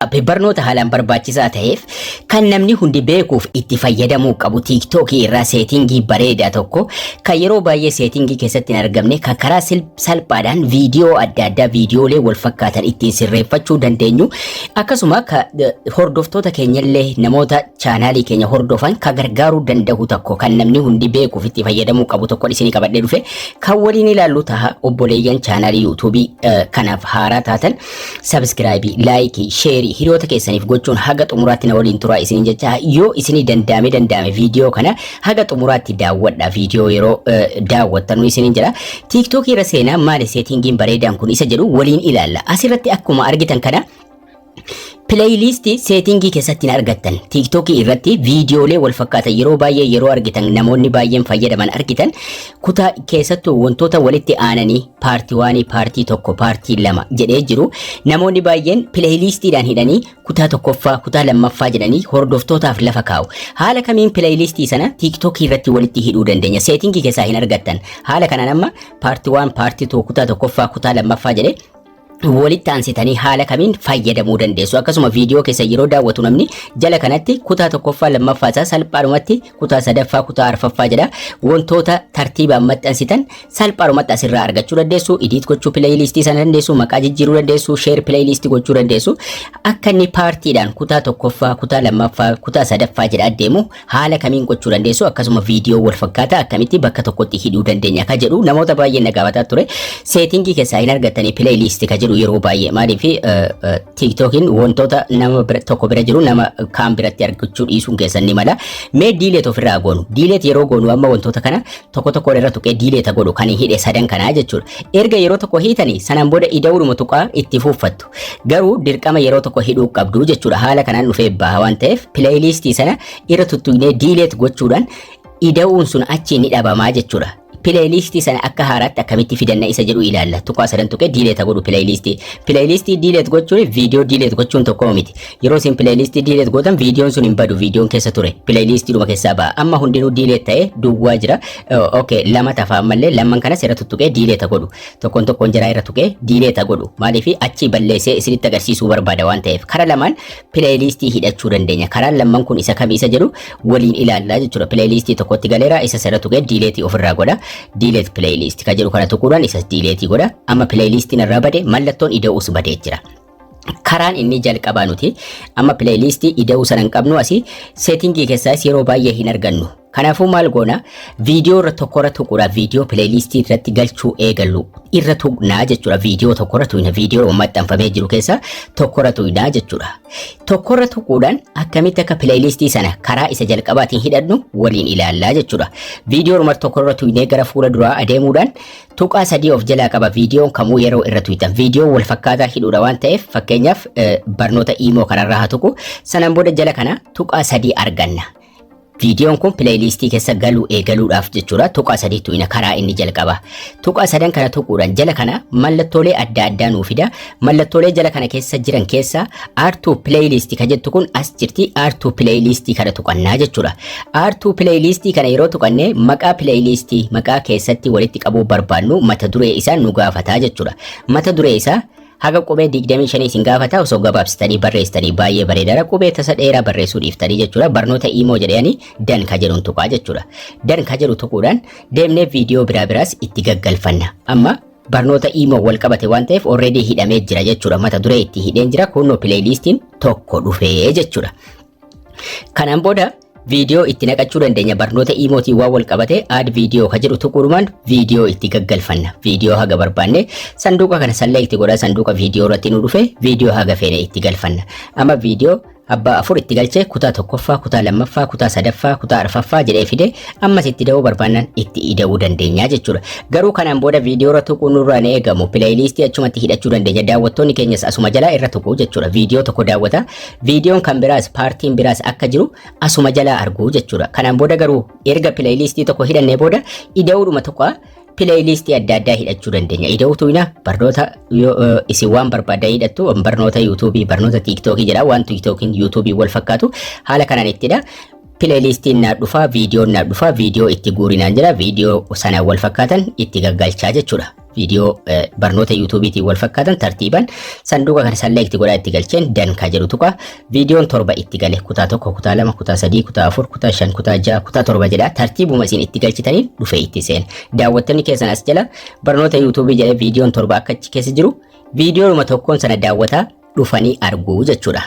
Appii barnoota haalaan barbaachisaa ta'eef kan namni hundi beekuuf itti fayyadamuu qabu tiiktookii irraa seetingii bareedaa tokko kan yeroo baay'ee seetingii keessatti hin argamne kan karaa salphaadhaan viidiyoo adda addaa viidiyoolee wal fakkaatan ittiin sirreeffachuu dandeenyu akkasuma hordoftoota keenyallee namoota chaanaalii keenya hordofan kan gargaaruu danda'u tokko kan namni hundi beekuuf itti fayyadamuu qabu tokko isinii qabadhee dhufe kan waliin ilaallu taha obboleeyyan chaanaalii yuutuubii kanaaf haaraa taatan Sabiskiraayibii, laayikii, sheerii hiriyoota keessaniif gochuun haga xumuraatti na waliin turaa isiniin jechaa yoo isinii danda'ame danda'ame viidiyoo kana haga xumuraatti daawwadha viidiyoo yeroo eh, daawwattanu isiniin jedha. Tiiktookii irra seenaa maali seetiingiin bareedaan kun isa jedhu waliin ilaalla. Asirratti akkuma argitan kana Pileeyiliisti seetingii keessatti hin argattan. Tiiktookii irratti viidiyoolee wal fakkaatan yeroo baay'ee yeroo argitan namoonni baay'een fayyadaman argitan kutaa keessattuu wantoota walitti aananii paartii waanii paartii tokko paartii lama jedhee jiru namoonni baay'een pileeyiliistiidhaan hidhanii kutaa tokkoffaa kutaa lammaffaa jedhanii hordoftootaaf lafa kaa'u. Haala kamiin pileeyiliistii sana tiiktookii irratti walitti hidhuu dandeenya. Seetingii keessaa hin argattan. Haala kanaan amma paartii waan paartii tokko kutaa tokkoffaa kutaa lammaffaa jedhee walitti aansitanii haala kamiin fayyadamuu dandeessu akkasuma viidiyoo keessa yeroo daawwatu namni jala kanatti kutaa tokkoffaa lammaffaa isaa salphaadhumatti kutaa sadaffaa kutaa arfaffaa jedha wantoota tartiibaan maxxansitan salphaadhumatti asirraa argachuu dandeessu idiit gochuu pileeyiliistii sana dandeessu maqaa jijjiiruu dandeessu sheer pileeyiliistii gochuu dandeessu akka inni paartiidhaan kutaa tokkoffaa kutaa lammaffaa kutaa sadaffaa jedha adeemu haala kamiin gochuu dandeessu akkasuma viidiyoo wal fakkaataa akkamitti bakka tokkotti hidhuu dandeenya ka jedhu namoota baay'een na gaafataa ture seetingii keessaa hin argattanii pileeyiliisti ka jedhu yeroo baay'ee maaliif tiiktookiin wantoota nama bira- tokko bira jiru nama kaan biratti argachuu dhiisuun keessan ni mala mee diileet ofirraa goonu diileet yeroo goonu amma wantoota kana tokko tokko irra tuqee diileeta godhu kan hidhe sadan kanaa jechuudha erga yeroo tokko hiitanii sanaan booda ida'uudhuma tuqaa itti fuuffattu Garuu dirqama yeroo tokko hidhuu qabdu jechuudha. Haala kanaan dhufee baha waan ta'eef pileeyiliistii sana irra tuttuqnee diileet gochuudhaan ida'uun sun achi ni dhabamaa jechuudha. Pileeyiliistii sana akka haaraatti akkamitti fidanna isa jedhu ilaalla. Tuqaa sadan tuqee diileeta godhu pileeyiliistii. Pileeyiliistii diileet gochuun viidiyoo diileet gochuun tokko miti. Yeroo isin pileeyiliistii diileet gootan viidiyoon sun hin badu viidiyoon keessa ture. Pileeyiliistii dhuma keessaa ba'a. Amma hundinuu diileet ta'ee duwwaa jira. Ok lama tafa ammallee lamman kanas irra tuttuqee diileeta godhu. tokkoon tokkoon jaraa irra tuqee diileet haa godhu maaliif achii balleessee isinitti agarsiisuu barbaada waan ta'eef karaa lamaan pileeyiliistii hidhachuu dandeenya karaan lamman kun isa kami isa jedhu waliin ilaallaa jechuudha pileeyiliistii tokkotti galeera isa sirra tuqee diileetii ofirraa godha diileet pileeyiliistii kan jedhu kana tuquudhaan isas diileetii godha amma pileeyiliistiin irraa bade mallattoon ida'uus badee jira. karaan inni jalqabaa nuti amma pileeyliistii ida'uu sana hin qabnu asii seetingii keessaas yeroo baay'ee hin argannu. Kanaafuu maal goona viidiyoo irra tokkorra tuquudha viidiyoo pileeyliistii irratti galchuu eegallu irra tuqnaa jechuudha viidiyoo tokkorra tuqna viidiyoo maxxanfamee jiru keessaa tokkorra tuqnaa jechuudha. Tokkorra tuquudhaan akkamitti akka pileeyliistii sana karaa isa jalqabaatiin hidhannu waliin ilaallaa jechuudha. Viidiyoo tokkorra tuqnee gara fuula duraa adeemuudhaan Tuqaa sadii of jalaa qaba viidiyoon kamuu yeroo irra tuytan viidiyoo wal fakkaataa hidhuudha waan ta'eef fakkeenyaaf barnoota iimoo kanarraa haa tuqu sanaan booda jala kana tuqaa sadii arganna. Viidiyoon kun pileeyiliistii keessa galuu eegaluudhaaf jechuudha tuqaa sadii tuqina karaa inni jalqaba. Tuqaa sadan kana tuquudhaan jala kana mallattoolee adda addaa nuu fida Mallattoolee jala kana keessa jiran keessa R2 playlist ka jettu kun as jirti R2 playlist kana tuqannaa jechuudha. R2 playlist kana yeroo tuqanne maqaa playlist maqaa keessatti walitti qabuu barbaannu mata duree isaa nu gaafataa jechuudha. Mata duree isaa haga qubee 25 isin gaafata osoo gabaabsitanii barreessitanii baay'ee bareedaadha qubee tasa dheeraa barreessuu dhiiftanii jechuudha barnoota imoo jedhanii dan ka jedhuun tuqaa jechuudha dan ka jedhu tuquudhaan deemnee viidiyoo biraa biraas itti gaggalfanna amma barnoota imo wal qabate waan ta'eef already hidhamee jira jechuudha mata duree itti hidheen jira kunno playlistiin tokko dhufee jechuudha kanaan booda viidiyoo itti naqachuu dandeenya barnoota imootiin waan wal qabate aad viidiyoo ka jedhu tuquudhumaan viidiyoo itti gaggalfanna viidiyoo haga barbaanne sanduuqa kana sallee itti godha sanduuqa viidiyoo irratti nu dhufe viidiyoo haga feene itti galfanna amma viidiyoo Abbaa afur itti galchee kutaa tokkoffaa, kutaa lammaffaa, kutaa sadaffaa, kutaa arfaffaa jedhee fide ammas itti da'uu barbaannan itti ida'uu dandeenya jechuudha. Garuu kanaan booda viidiyoo irra tuquu nurraa hin eegamu. Pileeyiliistii achumatti hidhachuu dandeenya. Daawwattoonni keenyas asuma jalaa irra tuqu jechuudha. Viidiyoo tokko daawwata. Viidiyoon kan biraas paartiin biraas akka jiru asuma jalaa argu jechuudha. Kanaan booda garuu erga pileeyiliistii tokko hidhannee booda ida'uudhuma tuqa. pileeyiliistii adda addaa hidhachuu dandeenya. Ida'uu tuuyna barnoota yoo eh, isin waan barbaadan hidhattu barnoota yuutuubii barnoota tiiktookii jedha waan tiiktookiin yuutuubii wal fakkaatu haala kanaan ittidha. Pileeyiliistiin naa dhufaa viidiyoon naa dhufaa viidiyoo itti guurinaan jira viidiyoo sana wal fakkaatan itti gaggalchaa jechuudha. Viidiyoo eh, barnoota yuutuubiitiin wal fakkaatan tartiibaan sanduuqa kana salleekti godhaa itti galcheen dankaa jedhu tuqa Viidiyoon torba itti gale kutaa tokko, kutaa lama, kutaa sadii, kutaa afur, kutaa shan, kutaa ja'a, kutaa torba jedha tartiibuma isin itti galchitaniin dhufee itti seena. Daawwattoonni keessan as jala barnoota yuutuubii jedhee viidiyoon torba akka achi keessa jiru viidiyoonuma tokkoon sana daawwataa dhufanii arguu jechuudha.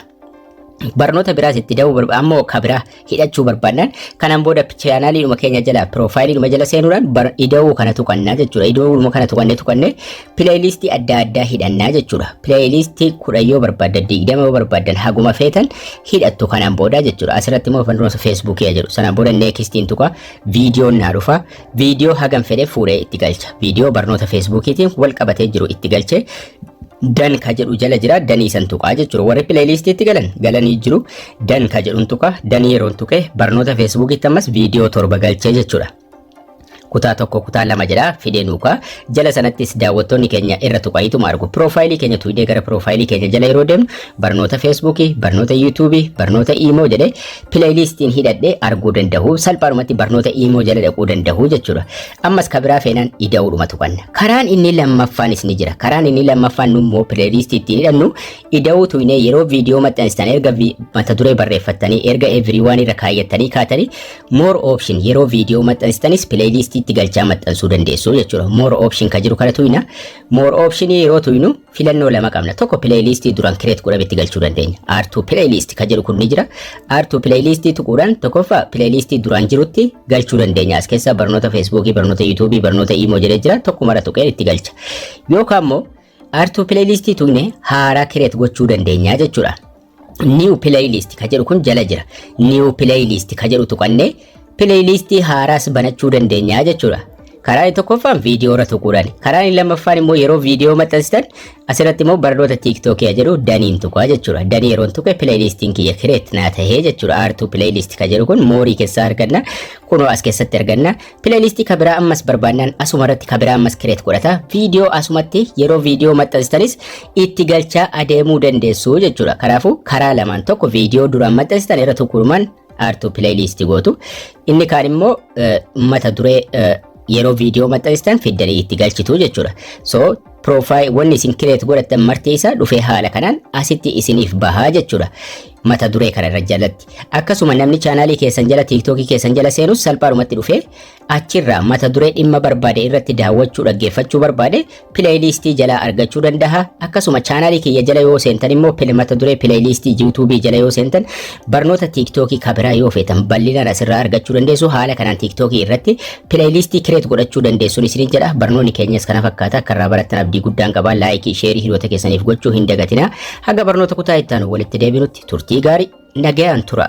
Barnoota biraas itti da'uu barbaada ammoo ka biraa hidhachuu barbaannaan kanaan booda chaanaaliidhuma keenya jala piroofaayiliidhuma jala seenuudhaan bar- ida'uu kana tuqannaa jechuudha. Ida'uuma kana tuqannee tuqannee pileeyiliistii adda addaa hidhannaa jechuudha. Pileeyiliistii kudha yoo barbaaddan digdama yoo barbaaddan haguma feetan hidhattu kanaan booda jechuudha. Asirratti immoo fandurosa feesbuukii jedhu sanaan booda neekistiin tuqa viidiyoon naa dhufa. viidiyoo hagam fedhe fuudhee itti galcha. Viidiyoo barnoota feesbuukiitiin wal qabatee jiru itti galchee dan ka jedhu jala jira danii san tuqaa jechuudha warri pileeyiliistiitti galan galanii jiru dan ka jedhun tuqaa danii yeroon tuqee barnoota feesbuukiitti ammas viidiyoo torba galchee jechuudha. kutaa tokko kutaa lama jedha fidee nuukaa jala sanattis daawwattoonni keenya irra tuqaayituma argu piroofaayilii keenya tuidee gara piroofaayilii keenya jala yeroo deemnu barnoota feesbuukii barnoota yuutuubii barnoota iimoo jedhee pileeyliistiin hidhadhee arguu danda'u salphaadhumatti barnoota iimoo jala dhaquu danda'u jechuudha. Ammas ka biraa feenaan ida'uudhuma tuqanna. Karaan inni lammaffaanis ni jira. Karaan inni lammaffaan immoo pileeyliistii ittiin hidhannu ida'uu tuqnee yeroo viidiyoo maxxanstan erga vi- mata duree barreeffattanii erga everyone irra kaayyattanii kaatanii more option yeroo viidiyoo maxxanstanis pileeyliistii itti galchaa maxxansuu dandeessu jechuudha. More option ka jiru kana tuqna. More option yeroo tuynu filannoo lama qabna. Tokko playlist duran create godhame itti galchuu dandeenya. R2 playlist kan jedhu kun ni jira. R2 playlist tuquudhaan tokkoffaa playlist duraan jirutti galchuu dandeenya. As keessa barnoota Facebook, barnoota YouTube, barnoota Imo jedhee jira. Tokko mara tuqeen itti galcha. Yookaan immoo R2 playlist tuqne haaraa create gochuu dandeenya jechuudha. New playlist ka jedhu kun jala jira. New playlist ka jedhu tuqannee playlist haaraas banachuu dandeenya jechuudha. Karaa inni tokkoffaan viidiyoo irra tuquudhaan. Karaa inni lammaffaan immoo yeroo viidiyoo maxxansitan asirratti immoo barnoota TikTok jedhu daniin tuqaa jechuudha. Danii yeroon tuqe playlist'n kiyya kireet naa tahee jechuudha. Aartuu playlist ka jedhu kun moorii keessaa arganna. Kunoo as keessatti arganna. Pileeliistii ka biraa ammas barbaannaan asuma irratti ka biraa ammas kireet godhata. Viidiyoo asumatti yeroo viidiyoo maxxansistanis itti galchaa adeemuu dandeessu jechuudha. Kanaafuu karaa lamaan tokko viidiyoo duraan maxxansitan irra tuqurumaan aartuu pileeliistii gootu. Inni kaan immoo mata duree yeroo viidiyoo maxxanistan fiddanii itti galchitu jechuudha. So Profile wanni isin create godhattan marti isaa dhufee haala kanaan asitti isiniif bahaa jechuudha. Mata duree kana irra jalatti. Akkasuma namni chaanaalii keessan jala tiiktookii keessan jala seenus salphaadhumatti dhufee achirraa mata duree dhimma barbaade irratti daawwachuu dhaggeeffachuu barbaade pileeyiliistii jalaa argachuu danda'a. Akkasuma chaanaalii kiyya jala yoo seentan immoo pile- mata duree pileeyiliistii yuutuubii jala yoo seentan barnoota tiiktookii kabiraa yoo feetan bal'inaan asirraa argachuu dandeessu haala kanaan tiiktookii irratti Pileeyliistii kireet godhachuu dandeessuun isiniin jedha. Barnoonni keenyas kana fakkaata. Akka irraa barattan abdii guddaan qaba. Laayikii, sheerii hiriyoota keessaniif gochuu hin dagatina. Haga barnoota kutaa itti aanu walitti deebinutti turtii gaarii nagayaan tura.